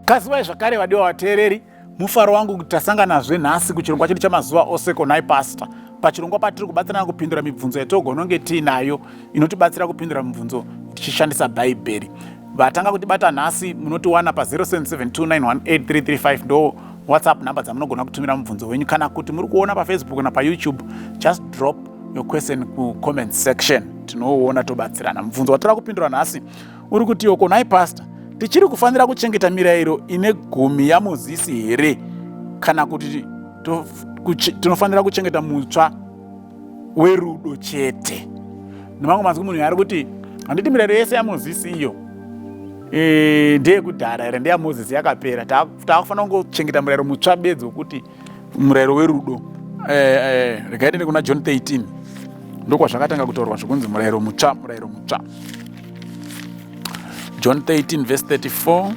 Kazivai zvakare vadiwa vateereri mufaro wangu kuti tasanganazve nhasi kuchirongwa chedu chamazuva ose konai pasta pachirongwa patiri kubatsirana kupindura mibvunzo yatogononge tiinayo inotibatsira kupindura mibvunzo tichishandisa bhaibheri vatanga kutibata nhasi munotiwana pa0772918335 ndo whatsapp number dzamunogona kutumira mubvunzo wenyu kana kuti muri kuona pafacebook kana payoutube just drop your question kucomment section tinouona tobatsirana mubvunzo watora kupindura nhasi uri kuti yoko nhai pastor tichiri kufanira kuchengeta mirayiro ine gumi yamozisi here kana kuti tinofanira kuchengeta mutsva werudo chete nemamwe mazwi munhu yaari kuti handiti mirayiro yese yamozisi iyo e, ndeyekudhara here ndeyamozisi yakapera taakufanira kungochengeta murayiro mutsva bedzi wekuti murayiro werudo eh, eh, regai tende kuna john 13 ndokwazvakatanga kutaurwa zvekunzi murayiro mutsva murayiro mutsva john 13 vhesi 34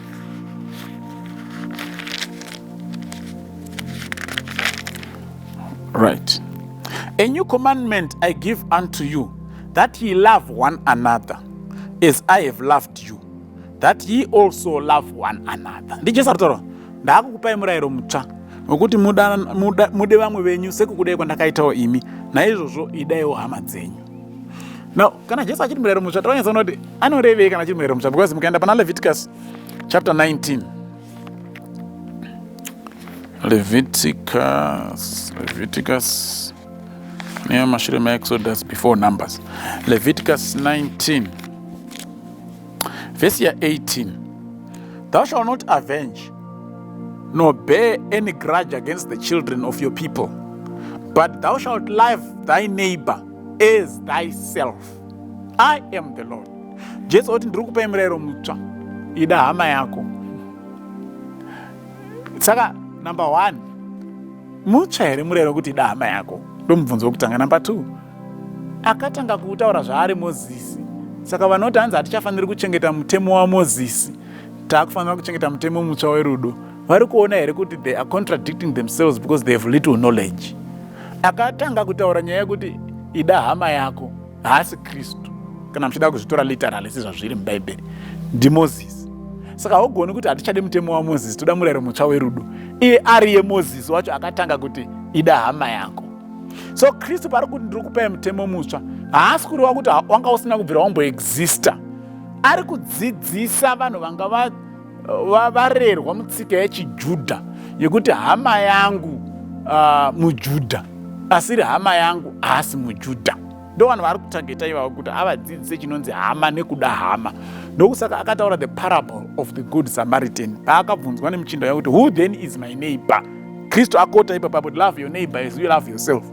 right a new commandment i give unto you that ye love one another as i have loved you that ye also love one another ndijesu aritaura ndaakukupai murayiro mutsva wekuti mude vamwe venyu sekukudai kwandakaitawo imi naizvozvo idaiwo hama dzenyu no kana jesu achiti murayiro mutsva tiranyatsa kuona kuti anorevei kana achiti murayiro mutsva because mukaenda pana leviticus chapter 19 leviticus leviticus neamashure maexodus before numbers leviticus 19 Vhesi ya 18 Thou shall not avenge nor bear any grudge against the children of your people, but thou shalt love thy neighbor as thyself. I am the Lord. Jesu oti ndiri kupai murayiro mutsva, ida hama yako. Saka number one, mutsva here murayiro kuti ida hama yako? Ndomubvunzo wekutanga. Number two, Akatanga kutaura zvaari Mozisi. Saka vanoti hanzi hatichafaniri kuchengeta mutemo waMozisi, taakufanira kuchengeta mutemo mutsva werudo. Vari kuona here kuti they are contradicting themselves because they have little knowledge. Akatanga kutaura nyaya yekuti ida hama yako, haasi Kristu, kana muchida kuzvitora literally sezvazviri muBhaibheri, ndiMozisi saka haugoni kuti hatichadi mutemo wamozisi toda murayiro mutsva werudo iye ariye mozisi wacho akatanga kuti ida hama yako so kristu paari kuti ndiri kupai mutemo mutsva haasi kureva kuti wanga usina kubvira wamboexista ari kudzidzisa vanhu vanga varerwa mutsika yechijudha yekuti hama yangu uh, mujudha asiri hama yangu haasi mujudha ndovanhu vaari kutageta ivavo kuti avadzidzise chinonzi hama nekuda hama ndokusaka akataura the parable of the good samaritan paakabvunzwa nemuchinda wake kuti who then is my neighbor kristu akota ipapa kuti love your neighbor as you love yourself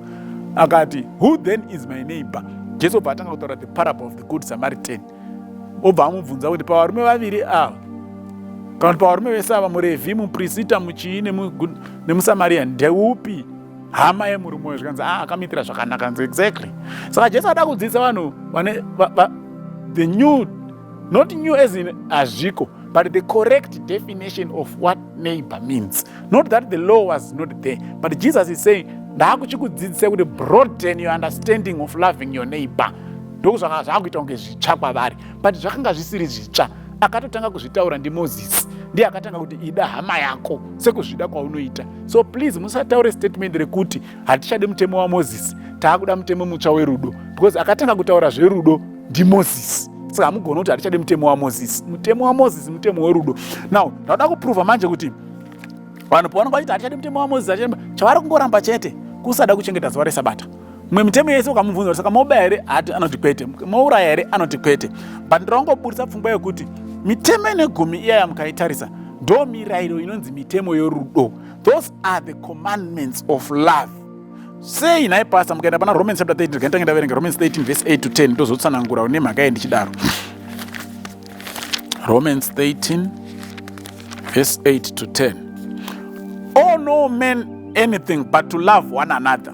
akati who then is my neighbor jesu obva atanga kutaura the parable of the good samaritan obva amubvunza kuti pavarume vaviri ava kana kuti pavarume vese ava murevhi muprisita muchii nemusamarian ndeupi hama yemurume uyo zvikanzi ah, akamitira zvakanaka nzi exactly saka jesu ada kudzidzisa vanhu vane the new not new as in hazviko but the correct definition of what neighbor means not that the law was not there but jesus is saying ndaakuchikudzidzisa kuti broaden your understanding of loving your neighbor ndokuzvanga zvaakuita kunge zvitsva kwavari but zvakanga zvisiri zvitsva akatotanga kuzvitaura ndimozisi ndiye akatanga kuti ida hama yako sekuzvida kwaunoita so please musataure statement rekuti hatichade mutemo wamozisi taakuda mutemo mutsva werudo because akatanga kutaura zverudo ndimozisi saka hamugoni kuti hatichade mutemo wamozisi mutemo wamozisi mutemo werudo now ndauda kuprova manje kuti vanhu pavanonga vachiti hatichade mutemo wamozisi chavari kungoramba chete kusada kuchengeta zuva resabata mwe mitemo yese ukamubvunza kuti saka mobaya here ati anoti kwete mouraya here anoti kwete but ndiraungoburitsa pfungwa yekuti mitemo ine gumi iyaya mukaitarisa ndo mirayiro inonzi mitemo yorudo those are the commandments of love sei nhai pasta mukaenda pana romans chapter 13 ndikaita ndaverenga romans 13 verse 8 to 10 ndozotsanangura une mhaka ye ndichidaro romans 13 verse 8 to 10 oh no man anything but to love one another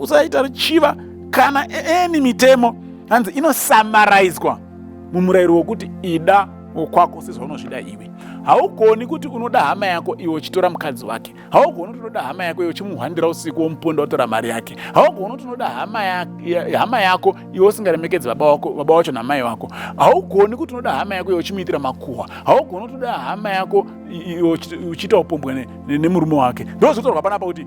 usaita ruchiva kana eni mitemo hanzi inosamaraizwa mumurayiro wokuti ida wokwako sezvaunozvida iwe haugoni kuti unoda hama yako iwe uchitora mukadzi wake haugoni kuti unoda hama yako iwe uchimuhwandira usiku womuponda watora mari yake haugoni kuti unoda hama, ya, ya, hama yako iwe usingaremekedzi baba wako baba wacho namai wako haugoni kuti unoda hama yako iwe uchimuitira makuhwa haugoni kuti unoda hama yako iwe uchiita upombwe nemurume wake ndozvotorwa panapa kuti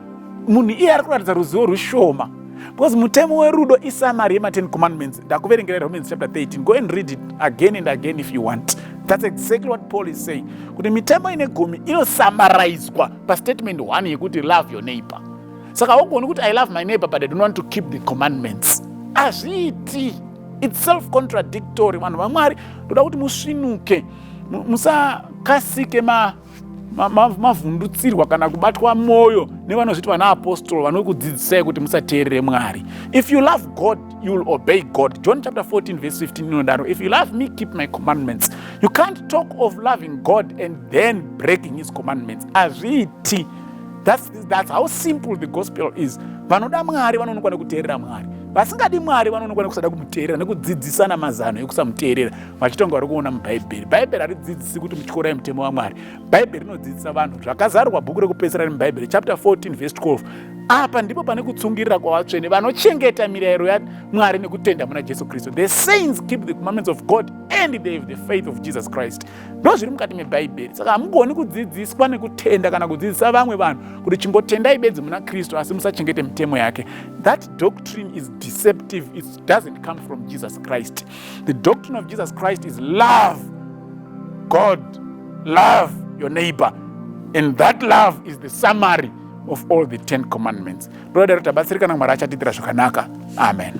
munhu iye ari kuratidza ruzivo rwushoma because mutemo werudo isamari yema10 commandments ndakuverengera romans chapter 13 go and read it again and again if you want thats exactly what paul is saying kuti mitemo ine gumi inosamaraizwa pastatement 1 yekuti love your neighbor saka haugoni kuti i love my neighbor but i don't want to keep the commandments hazviiti its self contradictory vanhu vamwari ndoda kuti musvinuke musakasike ma mavhundutsirwa ma, ma kana kubatwa mwoyo nevanozviti vana apostolo vanokudzidzisai kuti musateerere mwari if you love god you will obey god john chapter 14 verse 15 inodaro if you love me keep my commandments you can't talk of loving god and then breaking his commandments hazviiti that's, that's how simple the gospel is vanoda mwari vanoonekwa nekuteerera mwari vasingadi mwari vanoonekwa nekusada kumuteerera nekudzidzisana mazano ekusamuteerera vachitonga vari kuona mubhaibheri bhaibheri haridzidzisi kuti mutyora mutemo wamwari bhaibheri rinodzidzisa vanhu zvakazarwa bhuku rekupedzisira remubhaibheri chapter 14 vhesi 12 apa ndipo pane kutsungirira kwavatsvene vanochengeta mirayiro yamwari nekutenda muna jesu kristu the saints keep the commandments of god and they have the faith of jesus christ ndo zviri mukati mebhaibheri saka hamugoni kudzidziswa nekutenda kana kudzidzisa vamwe vanhu kuti chingotendai bedzi muna kristu asi musachengete mitemo yake that doctrine is deceptive it doesn't come from jesus christ The doctrine of Jesus Christ is love God, love your neighbor. And that love is the summary of all the 10 commandments. Toda daro tabatsirika na Mwari achatitira zvakanaka. Amen.